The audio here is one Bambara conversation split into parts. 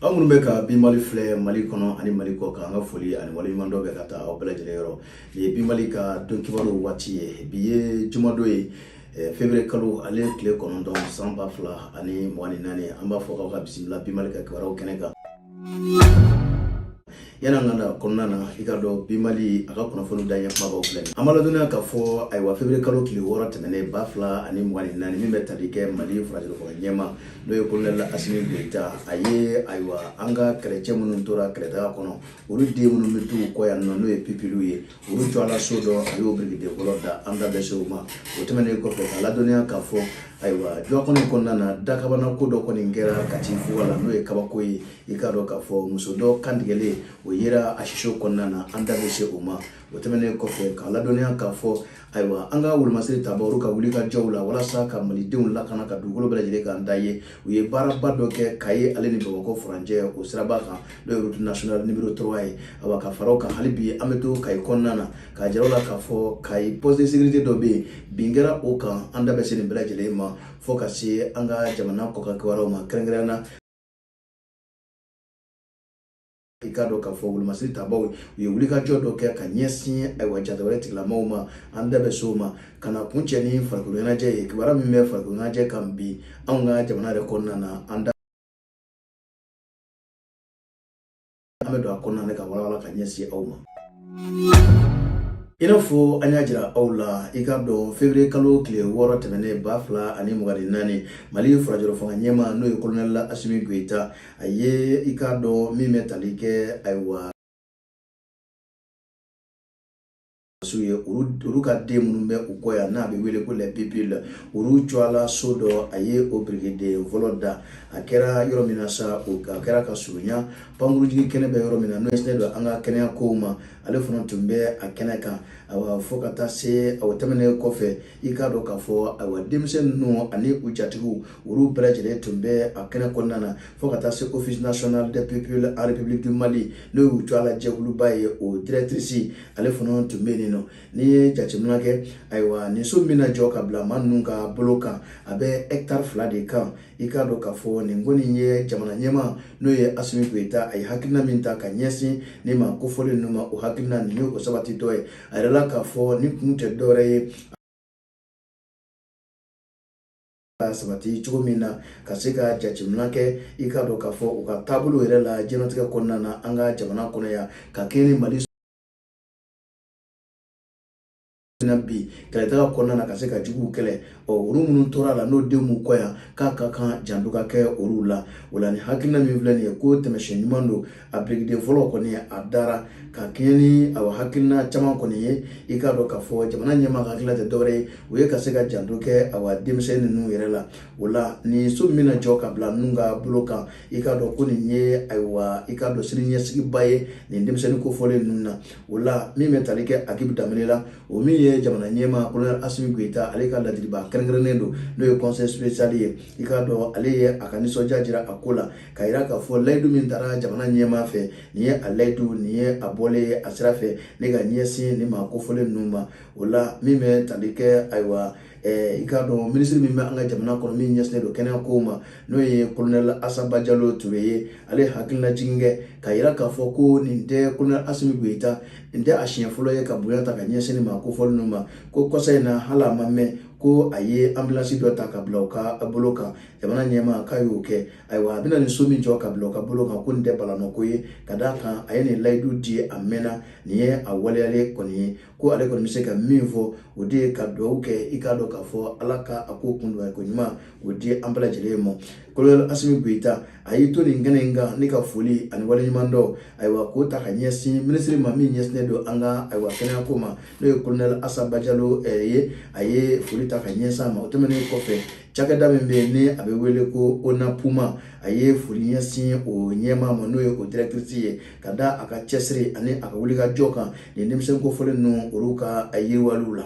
aw minnu bɛ ka bi mali filɛ mali kɔnɔ ani mali kɔkan an ka foli ani waleɲumandɔn bɛ ka taa aw bɛɛ lajɛlen yɔrɔ nin ye bi mali ka don kibaruw waati ye bi ye jumadon ye eh, fevrier kalo ale tile kɔnɔntɔn san ba fila ani mugan ni naani an b'a fɔ k'aw ka bisimila bi mali ka kibaruw kɛnɛ kan yana ka na kɔnɔna na i k'a dɔn bi mali a ka kunnafoni daɲɛ kumabaw filɛ an b'a ladɔnniya k'a fɔ ayiwa fevriye kalo tile wɔɔrɔ tɛmɛnen ba fila ani mugan ni naani min bɛ tali kɛ mali furancɛlafanga ɲɛmaa n'o ye kolonɛli asimi goyita a ye ayiwa an ka kɛlɛcɛ minnu tora kɛlɛdaga kɔnɔ olu den minnu bɛ t'u kɔ yan nɔ n'o ye pipiliw ye Olu tɔgɔla so dɔ a y'o birikiden fɔlɔ da an da bɛ se o ma o tɛmɛnen kɔfɛ k'a ladɔnniya k'a fɔ ayiwa jɔ kɔnɔ kɔnɔna na dakabana ko dɔ kɔni kɛra kati fuga la n'o ye kabako ye i k'a dɔn k'a fɔ muso dɔ kan tigɛlen o yera a siso kɔnɔna na an da bɛ se o ma o tɛmɛnen kɔfɛ k'a ladɔnniya k'a fɔ ayiwa an ka wolomasiri tabaa olu ka wulikajɔw la walasa ka malidenw lakana ka dugukolo bɛɛ lajɛlen kanda ye u ye baaraba dɔ kɛ kayi ale ni bamakɔ furancɛ o siraba kan n'o ye route nationale numéro 3 ye awa ka fara o kan hali bi an bɛ to kayi kɔnɔna na k'a jira aw la k'a fɔ kayi poste de sécurité dɔ bɛ yen bin kɛra o kan an da bɛ se nin bɛɛ lajɛlen ma fo ka se an ka jamana kɔkan kibaruyaw ma kɛrɛnkɛrɛnnenya la i k'a dɔn k'a fɔ wolomasiri tabaw u ye wulikajɔ dɔ kɛ ka ɲɛsin ayiwa jatigɛwale tigilamɔgɔw ma an da bɛ se o ma ka n'a kuncɛ ni farikolo ɲɛnajɛ ye kibaruya min bɛ farikolo ɲɛnajɛ kan bi anw ka jamana yɛrɛ kɔnɔna na an da an bɛ don a kɔnɔna na k'a walawala ka ɲɛsin aw ma i n'a fɔ an y'a jira aw la i k'a dɔn fevriye kalo tile wɔɔrɔ tɛmɛnen ba fila ani mugan ni naani mali furancɛlafanga ɲɛmaa n'o ye kolonɛli asimi goyita a ye i k'a dɔn min bɛ tali kɛ ayiwa sɔrɔdasiw ye olu ka den minnu bɛ u kɔ yan n'a bɛ wele ko les pupilles olu tɔgɔla so dɔ a ye o birikiden fɔlɔ da a kɛra yɔrɔ min na sa o a kɛra ka surunya pankurujigi kɛnɛ bɛ yɔrɔ min na n'o ɲɛsinnen don an ka kɛnɛya kow ma ale fana tun bɛ a kɛnɛ kan awa fo ka taa se o tɛmɛnen kɔfɛ i k'a dɔn k'a fɔ ayiwa denmisɛn ninnu ani u jatigiw olu bɛɛ lajɛlen tun bɛ a kɛnɛ kɔnɔna na fo ka taa se office national des pupilles en république du mali n'o y'u tɔgɔla jɛkuluba ye o directrice ale fana tun bɛ yen nɔ n'i ye jateminɛ kɛ ayiwa nin so min na jɔ ka bila maa ninnu ka bolo kan a bɛ hectare fila de kan i k'a dɔn k'a fɔ nin kɔni ye jamana ɲɛmaa n'o ye asimi goyita a ye hakilina min ta ka ɲɛsin nin maa kofɔlen ninnu ma o hakilina nin ye o sabatitɔ ye a yirala k'a fɔ nin kun tɛ dɔwɛrɛ ye sabati cogo min na ka se ka jateminɛ kɛ i k'a dɔn k'a fɔ u ka taabolo yɛrɛ la jɛnatigɛ kɔnɔna na an ka jamana kɔnɔ yan ka kɛɲɛ ni mali bi kɛlɛtaga kɔnɔna na ka se ka juguw kɛlɛ ɔ olu minnu tora a la n'o denw b'u kɔ yan k'a ka kan janto ka kɛ olu la o la ni hakilina min filɛ nin ye ko taamasiyɛn ɲuman don a birikiden fɔlɔ kɔni a dara ka kɛɲɛ ni a hakilina caman kɔni ye i k'a dɔn k'a fɔ jamana ɲɛmaa ka hakilila tɛ dɔwɛrɛ ye u ye ka se ka janto kɛ a denmisɛn ninnu yɛrɛ la o la nin so min bɛna jɔ ka bila ninnu ka bolo kan i k'a dɔn ko nin ye ayiwa i k'a dɔn sini ɲɛsigiba ye nin denmisɛnnin kofɔlen ninnu na o la min bɛ tali kɛ akibu daminɛ la o min ye jamana ɲɛmaa kolonɛli asimi goyita ale ka ladilibaa kɛrɛnkɛrɛnnen don n'o ye kɔnseye ye i k'a dɔn ale ye a ka nisɔndiya jira a ko la ka yira k'a fɔ layidu min tara jamana ɲɛmaa fɛ nin ye a layidu nin ye a bɔlen ye a sira fɛ ne ka ɲɛsin nin maa kofɔlen ninnu ma o la min bɛ tali kɛ ayiwa i k'a dɔn minisiri min bɛ an ka jamana kɔnɔ min ɲɛsinnen don kɛnɛya kow ma n'o ye kolonɛli asa bajalo ture ye ale hakililajigin kɛ ka yira k'a fɔ ko nin tɛ kolonɛli asimi goyita nin tɛ a siɲɛ fɔlɔ ye ka bonya ta ka ɲɛsin nin maa kofɔlen ninnu ma ko kɔsa in na hali a ma mɛn ko a ye anbilansi dɔ ta ka bila u ka bolo kan jamana ɲɛmaa k'a y'o kɛ ayiwa a bɛna nin so min jɔ ka bila u ka bolo kan ko nin tɛ balannako ye ka d'a kan a ye nin layidu di a mɛnna nin ye a waleyalen kɔni ye ko ale kɔni bɛ se ka min fɔ o de ye ka dugawu kɛ i k'a dɔn k'a fɔ ala ka a ko kundonya ko ɲuman o di an bɛɛ lajɛlen ma kolonɛli asimi goyita a y'i to nin kɛnɛ in kan ne ka foli ani waleɲumandɔn ayiwa k'o ta ka ɲɛsin minisiri ma min ɲɛsinnen don an ka ayiwa kɛnɛyako ma n'o ye kolonɛli asa bajalo eh, ye a ye foli ta ka ɲɛsin a ma o tɛmɛnen kɔfɛ cakɛda min bɛ yen ni a bɛ wele ko onapuma a ye foli ɲɛsin o ɲɛmaa ma n'o ye o dirɛtirisi ye ka da a ka cɛsiri ani a ka wulikajɔ kan nin denmisɛn kofɔlen ninnu olu ka yiriwaliw la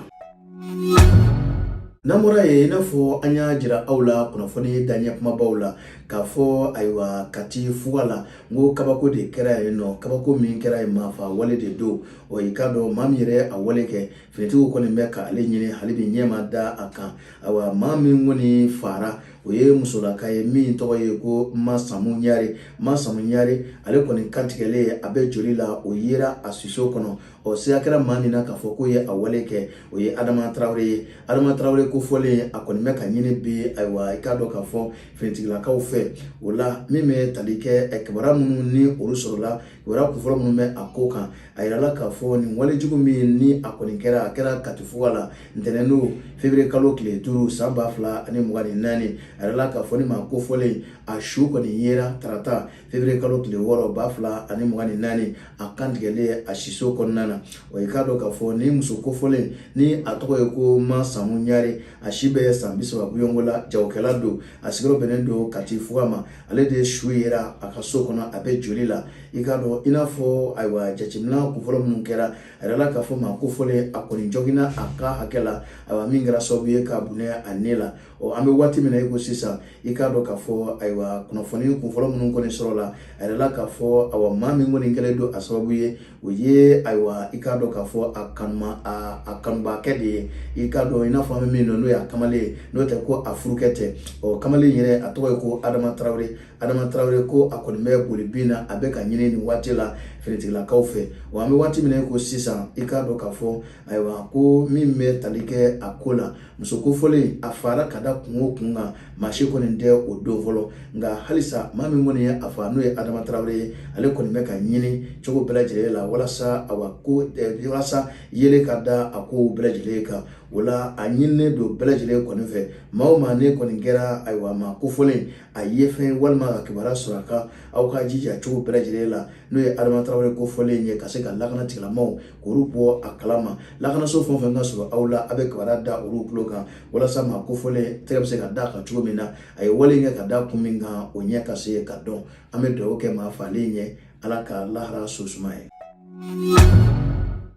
n'an bɔra yen i n'a fɔ an y'a jira aw la kunnafoni daɲɛ kumabaw la k'a fɔ ayiwa kati fuga la n ko kabako de kɛra yen ɔ kabako min kɛra yen maafa wale de don ɔ i k'a dɔn maa min yɛrɛ a wale kɛ finitigiw kɔni bɛ k'ale ɲini hali bi ɲɛ ma da a kan ayiwa maa min kɔni faara o ye musolaka ye min tɔgɔ ye ko masamu ɲare masamu ɲare ale kɔni kantigɛlen a bɛ joli la o yera a siso kɔnɔ ɔ siga kɛra maa min na k'a fɔ k'o ye a wale kɛ o ye adama tarawele ye adama tarawele kofɔlen a kɔni bɛ ka ɲini bi ayiwa i k'a dɔn k'a fɔ finitigilakaw fɛ o la min bɛ tali kɛ kibaruya minnu ni olu sɔrɔla kibaruya kunfɔlɔ minnu bɛ a ko kan a yirala k'a fɔ nin walejugu min ni a kɔni kɛra a kɛra kati fuga la ntɛnɛn don fevrier kalo tile duuru san ba fila ani mugan ni naani a yirala k'a fɔ nin maa kofɔlen a su kɔni yera tarata fevrier kalo tile wɔɔrɔ ba fila ani mugan ni naani a kantigɛlen a siso kɔnɔna na wa i k'a dɔn k'a fɔ nin muso kofɔlen nin a tɔgɔ ye ko ma samu ɲare a si bɛ san bi saba bɔɲɔgɔnko la jagokɛla don a sigiyɔrɔ bɛnnen don kati fuga ma ale de su yera a ka so kɔnɔ a bɛ joli la i k'a dɔn i n'a fɔ ayiwa jateminɛ kunfɔlɔ minnu kɛra a yirala k'a fɔ maa kofɔlen a kɔni joginna a kan hakɛ la ayiwa min kɛra sababu ye k'a bɔnɛ a ni la ɔ an bɛ waati min na i ko sisan i k'a dɔn k'a fɔ ayiwa kunnafoni kunfɔlɔ minnu kɔni sɔrɔla a yirala k'a fɔ awa maa min kɔni kɛlen don a sababu ye o ye ayiwa i k'a dɔn k'a fɔ a kanuma a kanubaakɛ de ye i k'a dɔn i n'a fɔ an bɛ min dɔn n'o y'a kamalen ye n'o tɛ ko a furukɛ tɛ ɔ kamalen yɛrɛ a tɔgɔ ye ko adama tarawele adama tarawele ko a kɔni bɛ boli bin na a bɛ ka ɲini nin waati la finitigilakaw fɛ wa an bɛ waati min ko sisan i k'a dɔn k'a fɔ ayiwa ko min bɛ tali kɛ a ko la muso kofɔlen a faara ka da kun o kun kan maa si kɔni tɛ o dɔn fɔlɔ nka halisa maa min kɔni ye a faa n'o ye adama tarawele ye ale kɔni bɛ ka ɲini cogo bɛɛ lajɛlen la walasa awa ko eh, walasa yeelen ka da a kow bɛɛ lajɛlen kan o la a ɲininen don bɛɛ lajɛlen kɔni fɛ maa o maa ne kɔni kɛra ayiwa maa kofɔlen a ye fɛn walima ka kibaruya sɔrɔ a kan aw ka jija cogo bɛɛ lajɛlen la n'o ye adama tarawele kofɔlen ye ka se ka lakana tigilamaw k'olu bɔ a kalama lakanaso fɛn o fɛn ka surun aw la aw bɛ kibaruya da olu tulo kan walasa maa kofɔlen tɛgɛ bɛ se ka da a kan cogo min na a ye wale kɛ ka da kun min kan o ɲɛ ka se ka dɔn an bɛ dugawu kɛ maa faalen ye ala ka laharaso suma a ye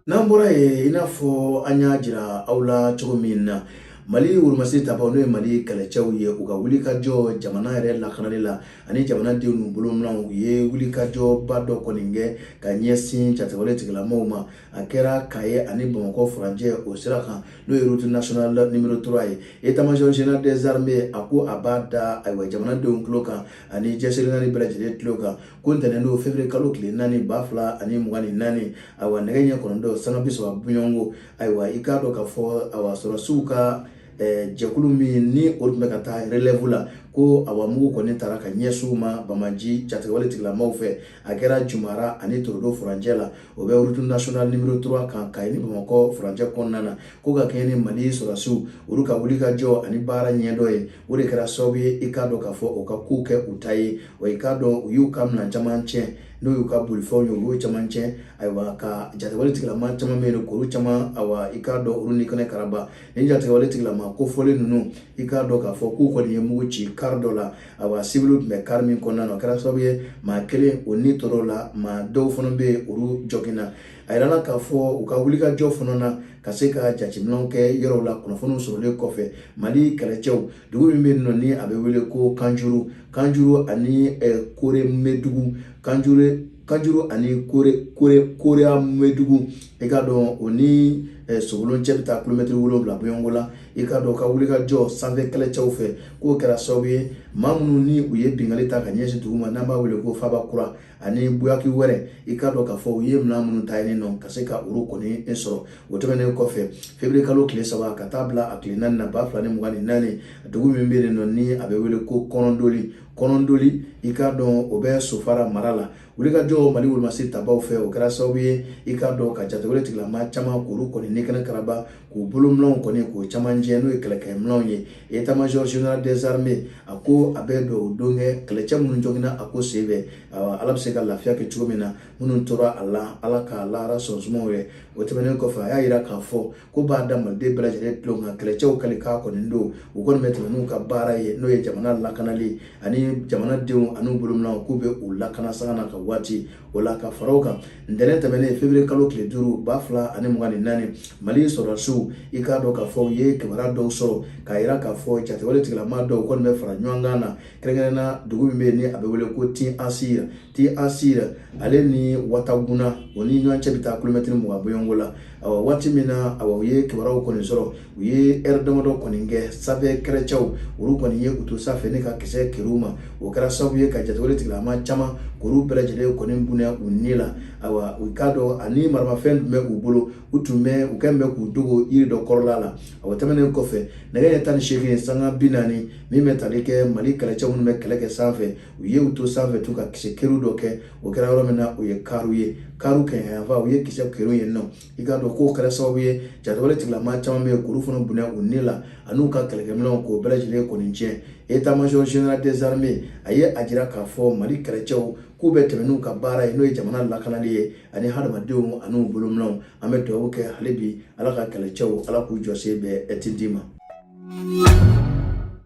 n'an bɔra yen i n'a fɔ an y'a jira aw la cogo min na mali wurumasi tabaw n'o ye mali kɛlɛcɛw ye u ka wulikajɔ jamana yɛrɛ lakanali la ani jamanadenw n'u bolominɛnw u ye wulikajɔba dɔ kɔni kɛ ka ɲɛsin jatigɛwale tigilamaw ma a kɛra kayi ani bamakɔ furancɛ o sira kan n'o ye route national numero 3 ye état-major général des armées a ko a b'a da ayiwa jamanadenw tulo kan ani diɲɛ seleke naani bɛɛ lajɛlen tulo kan ko ntɛnɛn don fevrier kalo tile naani ba fila ani mugan ni naani ayiwa nɛgɛ ɲɛ kɔnɔntɔn sanga bi saba bɔɲɔgɔnko ayiwa i k'a dɔn k'a fɔ awa sɔrɔsiw ka eh, jɛkulu min ni o tun bɛ ka taa relève la ko awa mugu kɔni tara ka ɲɛsin u ma banbaanci jatigɛwale tigilamaw fɛ a kɛra jumara ani torodo furancɛ la o bɛ route national numero 3 kan kayi ni bamakɔ furancɛ kɔnɔna na ko ka kɛɲɛ ni mali sɔrɔsiw olu ka wulikajɔ ani baara ɲɛdɔn ye o de kɛra sababu ye i k'a dɔn k'a fɔ u ka kow kɛ u ta ye wa i k'a dɔn u y'u ka minan caman tiɲɛ n'o y'u ka bolifɛnw ye u y'o caman tiɲɛ ayiwa ka jatigɛwale tigilama caman bɛ yen k'olu caman ayiwa i k'a dɔn olu ni kɛnɛ karaba nin jatigɛwale tigilama kofɔlen ninnu i k'a dɔn k'a fɔ k'u kɔni ye mugu ci kaari dɔ la ayiwa siwiliw tun bɛ kaari min kɔnɔna na o kɛra sababu ye maa kelen o ni tora a la maa dɔw fana bɛ yen olu joginna a yirala k'a fɔ u ka wulikajɔ fana na ka se ka jateminɛw kɛ yɔrɔw la kunnafoniw sɔrɔlen kɔfɛ mali kɛlɛcɛw dugu min bɛ yen nɔ ni a bɛ wele ko kanjuru kanjuru ani kore mɛdugu kanjuru kanjuru ani kore kore koreya mɛdugu i k'a dɔn o ni sokolo cɛ bɛ taa kilomɛtiri wolonwula bɔɲɔgɔnko la i k'a dɔn ka wulikajɔ sanfɛ kɛlɛcɛw fɛ k'o kɛra sababu ye maa minnu ni u ye binkanni ta ka ɲɛsin dugu ma n'an b'a wele ko faba kura ani buyaki wɛrɛ i k'a dɔn k'a fɔ u ye minɛn minnu ta yen nɔ ka se ka olu kɔni sɔrɔ o tɛmɛnen kɔfɛ feburuye kalo tile saba ka taa bila a tile naani na ba fila ni mugan ni naani dugu min bɛ yen nɔ ni a bɛ wele ko kɔnɔndoli kɔnɔndoli i k'a dɔn o bɛ sofara mara la wulikajɔ mali wolomasi tabaw fɛ o kɛra sababu ye i k'a dɔn ka jatigɛwale tigilama caman k'olu kɔni ni kɛnɛ karaba k'u bolominɛnw kɔni k'o caman tiɲɛ n'o ye kɛlɛkɛminɛnw ye etamajɔr general des armées a ko a bɛ dugawu kɛ kɛlɛcɛ minnu joginna a ko sen fɛ ala bɛ se ka lafiya kɛ cogo min na minnu tora a la ala ka lahara so suma u ye o tɛmɛnen kɔfɛ a y'a jira k'a fɔ k'u b'a da maliden bɛɛ lajɛlen tulon kan kɛlɛcɛw kali k'a kɔni dɔn u kɔni bɛ tɛmɛ n'u ka baara ye n'o ye jamana lakanali ani jamanadenw an'u bolominɛnw k'u bɛ u lakana sanga ani ka waati o la ka fara o kan ntɛnɛn tɛmɛnen feburuye kalo tile duuru ba fila ani mugan ni naani mali sɔrɔdasiw i k'a dɔn k'a fɔ u ye kibaruya dɔw sɔrɔ k'a yira k'a fɔ jatigɛwale tigilama dɔw kɔni bɛ fara ɲɔgɔn kan na kɛrɛnkɛrɛnna dugu min bɛ yen ni a bɛ wele ko tin asir tin asir ale ni wataguna o ni ɲɔgɔn cɛ bɛ taa kilomɛtiri mugan bɔɲɔgɔnko la awa waati min na awa u ye kibaruyaw kɔni sɔrɔ u ye lɛri damadɔ kɔni kɛ sanfɛ kɛlɛcɛw olu kɔni ye u to sanfɛ ni ka kisɛ kɛrun u ma o kɛra sababu ye ka jatigɛwale tigilama caman k'olu bɛɛ lajɛlen kɔni bɔnɛ u ni la ayiwa i k'a dɔn ani maramafɛn tun bɛ u bolo u tun bɛ u kɛn bɛ k'u dogo yiri dɔ kɔrɔla la awa tɛmɛnen kɔfɛ nɛgɛ ɲɛ tan ni seegin sanga bi naani min bɛ tali kɛ mali kɛlɛcɛ minnu bɛ kɛlɛ kɛ sanfɛ u ye u to sanfɛ tugun ka kisɛ kɛrun dɔ kɛ o kɛra yɔrɔ min na o ye karu ye karu kɛɲɛka yanfan u ye kisɛ kɛrun yen nɔ i k'a dɔn k'o kɛra sababu ye jatigɛwale tigilamaa caman bɛ yen k'olu fana bɔnɛ u ni la an'u ka kɛlɛkɛminɛnw k'o bɛɛ lajɛlen kɔni tiɲɛ etamajɔ general des armées a ye a jira k'a fɔ mali kɛlɛcɛw k'u bɛ tɛmɛ n'u ka baara ye n'o ye jamana lakanali ye ani hadamadenw an'u bolominɛw an bɛ dugawu kɛ hali bi ala ka kɛlɛcɛw ala k'u jɔsen bɛn tindi ma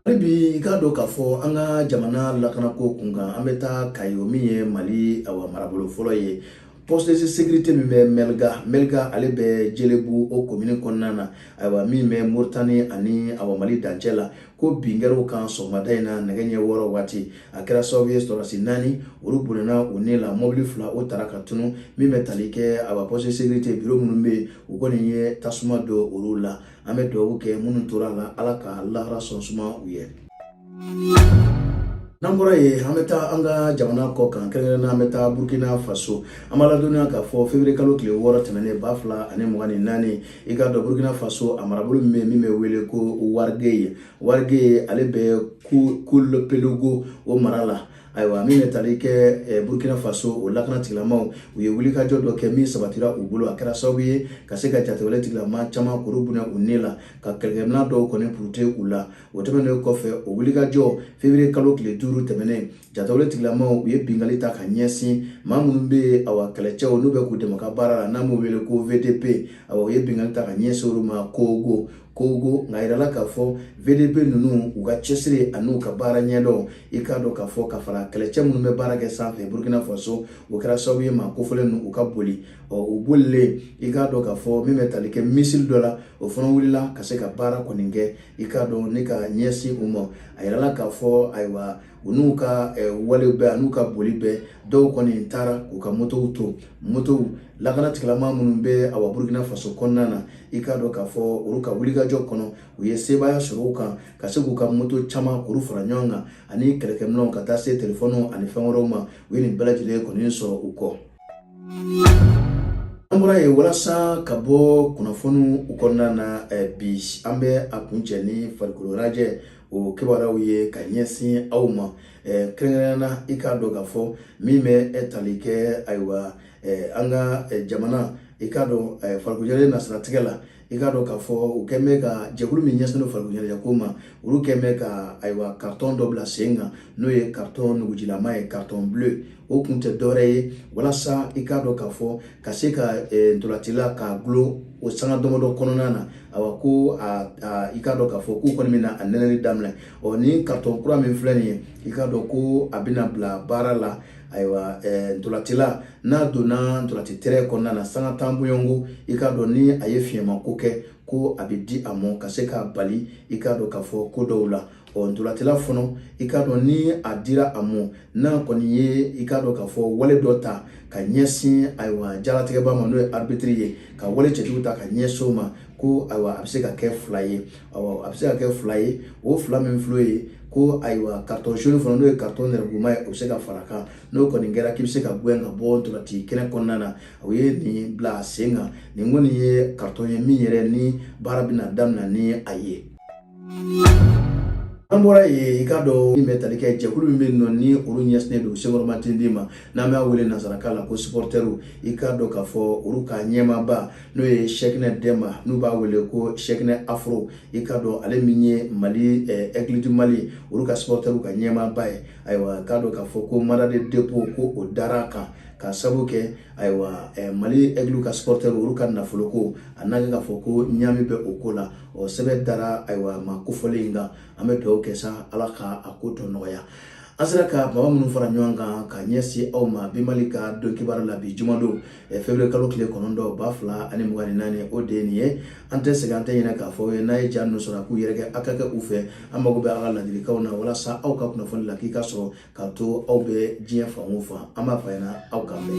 hali bi i k'a dɔn k'a fɔ an ka jamana lakanako kunkan an bɛ taa kayi o min ye mali awa marabolo fɔlɔ ye poste de sécurité min bɛ mɛliga mɛliga ale bɛ jelebu o komini kɔnɔna na ayiwa min bɛ moritani ani awa mali dancɛ la ko bin kɛra u kan sɔgɔmada in na nɛgɛ ɲɛ wɔɔrɔ waati a kɛra sababu ye sɔrɔdasi naani olu bɔnɛna u ni la mɔbili fila o tara ka tunun min bɛ tali kɛ awa poste de sécurité biro minnu bɛ yen u kɔni ye tasuma don olu la an bɛ dugawu kɛ minnu tora a la ala ka lahara sɔn suma u ye n'an bɔra yen an bɛ taa an ka jamana kɔ kan kɛrɛnkɛrɛnnenya na an bɛ taa burkina faso an b'a ladɔnniya k'a fɔ fevriye kalo tile wɔɔrɔ tɛmɛnen ba fila ani mugan ni naani i k'a dɔn burkina faso a marabolo min bɛ yen min bɛ wele ko warigeye warigeye ale bɛ kulpelogo o mara la ayiwa min bɛ tali kɛ eh, burkina faso o lakana tigilamaw u ye wulikajɔ dɔ kɛ min sabatira u bolo a kɛra sababu ye ka se ka jatigɛwale tigilama caman kuru bɔnɛ u ni la ka kɛlɛkɛmina dɔw kɔni puruti u la o tɛmɛnen kɔfɛ o wulikajɔ fevriye kalo tile duuru tɛmɛnen jatigɛwale tigilamaw u ye bingali ta ka ɲɛsin maa minnu bɛ awa kɛlɛcɛw n'u bɛ k'u dɛmɛ ka baara la n'an b'u wele ko vdp awa u ye bingali ta ka ɲɛsin olu ma kogo kogo nka a yirala k'a fɔ vdp ninnu u ka cɛsiri an'u ka baara ɲɛdɔn i k'a dɔn k'a fɔ ka fara kɛlɛcɛ minnu bɛ baara kɛ sanfɛ burkina faso o kɛra sababu ye maa kofɔlen ninnu u ka boli ɔ u bolilen i k'a dɔn k'a fɔ min bɛ tali kɛ misili dɔ la o fana wulila ka se ka baara kɔni kɛ i k'a dɔn ni ka ɲɛsin u ma a yirala k'a fɔ ayiwa u n'u ka wale bɛɛ ani n'u ka boli bɛɛ dɔw kɔni taara k'u ka motow to motow lakana tigilama minnu bɛ awa burkina faso kɔnɔna na i k'a dɔn k'a fɔ olu ka wulikajɔ kɔnɔ u ye sebaaya sɔrɔ u kan ka se k'u ka moto caman kuru fara ɲɔgɔn kan ani kɛlɛkɛminw ka taa se telefɔniw ani fɛn wɛrɛw ma u ye nin bɛɛ lajɛlen kɔni sɔrɔ u kɔ an bɔra yen walasa ka bɔ kunnafoniw u kɔnɔna na bi an bɛ a kuncɛ ni farikoloɲɛnajɛ o kibaruyaw ye ka ɲɛsin aw ma kɛrɛnkɛrɛnnenya na i k'a dɔn k'a fɔ min bɛ tali kɛ ayiwa an ka jamana i k'a dɔn farikoloɲɛnajɛ nasiratigɛ la i k'a dɔn k'a fɔ u kɛlen bɛ ka jɛkulu min ɲɛsinnen farikoloɲɛnajɛ ko ma olu kɛlen bɛ ka ayiwa karitɔn dɔ bila sen kan n'o ye karitɔn nugujilama ye karitɔn bleu o kun tɛ dɔwɛrɛ ye walasa i k'a dɔn k'a fɔ ka se ka ntolatila k'a dulon o sanga damadɔ kɔnɔna na awa ko i k'a dɔn k'a fɔ k'u kɔni bɛna a nɛnɛli daminɛ ɔ ni karitɔn kura min filɛ nin ye i k'a dɔn ko a bɛna bila baara la ayiwa ntolatila n'a donna ntolati tɛrɛn kɔnɔna na sanga tan bɔɲɔgɔnko i k'a dɔn ni a ye fiɲɛmako kɛ ko a bɛ di a mɔ ka se k'a bali i k'a dɔn k'a fɔ ko dɔw la ɔ ntolatila fɔnɔ i k'a dɔn ni a dira a mɔ n'a kɔni ye i k'a dɔn k'a fɔ wale dɔ ta ka ɲɛsin ayiwa jalatigɛbaa ma n'o ye arbitiri ye ka wale cɛjuguw ta ka ɲɛsin o ma ko ayiwa a bɛ se ka kɛ fila ye awa a bɛ se ka kɛ fila ye o fila min filɛ nin ye ko ayiwa karitɔn jaune fana n'o ye karitɔn nɛrɛmuguma ye o bɛ se ka fara a kan n'o kɔni kɛra k'i bɛ se ka gɛn ka bɔ ntolati kɛnɛ kɔnɔna na o ye nin bila sen kan nin kɔni ye karitɔn ye min yɛrɛ ni baara bɛna daminɛ ni a ye an bɔra yen i k'a dɔn min bɛ tali kɛ jɛkulu min bɛ yen nɔ ni olu ɲɛsinnen don senkɔrɔmatindi ma n'an b'a wele nansarakan la ko supɔrtɛriw i k'a dɔn k'a fɔ olu ka ɲɛmaaba n'o ye sɛkinɛ dɛnba n'u b'a wele ko sɛkinɛ afro i k'a dɔn ale min ye mali ɛgiliti eh, mali olu ka supɔrtɛriw ka ɲɛmaaba ye ayiwa k'a dɔn k'a fɔ ko manda de depo ko o dara a kan ka sabu kɛ ayiwa eh, mali ɛgiliw ka supɔrtɛriw olu ka nafoloko a n'a kɛ k'a fɔ ko ɲaami bɛ o ko la o sɛbɛn dara ayiwa maa kofɔlen in kan an bɛ dugawu kɛ sa ala ka a ko tɔ nɔgɔya an sera ka baba minnu fara ɲɔgɔn kan ka ɲɛsin aw ma bi mali ka don kibaru la bi jumadon eh, feburuye kalo tile kɔnɔntɔn ba fila ani mugan ni naani o de ye nin ye an tɛ sɛgɛn an tɛ ɲinɛ k'a fɔ a ye n'a ye ja ninnu sɔrɔ a k'u yɛrɛkɛ a ka kɛ u fɛ an mago bɛ a ka ladilikanw na walasa aw ka kunnafoni lakika sɔrɔ k'a to aw bɛ diɲɛ fan o fan an b'a fɔ a ɲɛ na aw k'a mɛn